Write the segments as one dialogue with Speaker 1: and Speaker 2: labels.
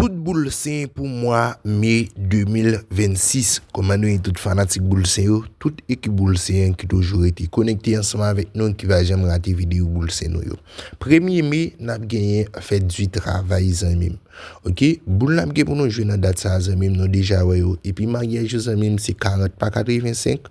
Speaker 1: Tout boul sen pou mwa me 2026 Kòman nou ye tout fanatik boul sen yo Tout ekip boul sen an ki toujou rete konekte ansanm avèk nou ki pa janm rate videyo boul sen nou yo Premye me n ap genyen fèt di travay zanmi m ok Boul n ap gen pou nou jwe nan dat sa a zanmi m nou deja wè yo epi maryaj yo zanmi m se 40 pa 85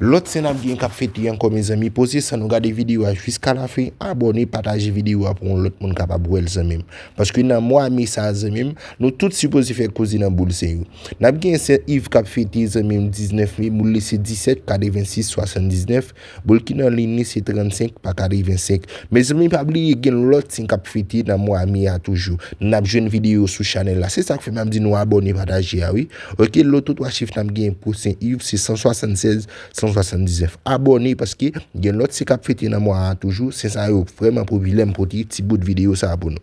Speaker 1: Lòt sen ap gen kap fete ankò mezanmi poze san nou gade video a jiska la fen abòne pataje video a pou yon lòt moun kapab wèl zanmim paske nan mwa me sa zanmim nou tout sipoze fè koze nan boul sen yo nap gen sè iv kap fete zanmim 19 me boul li se 17 kade 26 79 boul ki nan liyn li se 35 pa kade 25 mezanmi pa bliye gen lòt sen kap fete nan mwa me a toujou nap jwenn video sou chanèl la se sak fè map di nou abòne pataje a wi. Ok loto 3 chif nap genyen pou sen iv se 176 179 abòne paske gen lòt sen kap fete nan mwa a toujou sen sa yo vrèman popilè m pote ti bout videyo sa pou nou.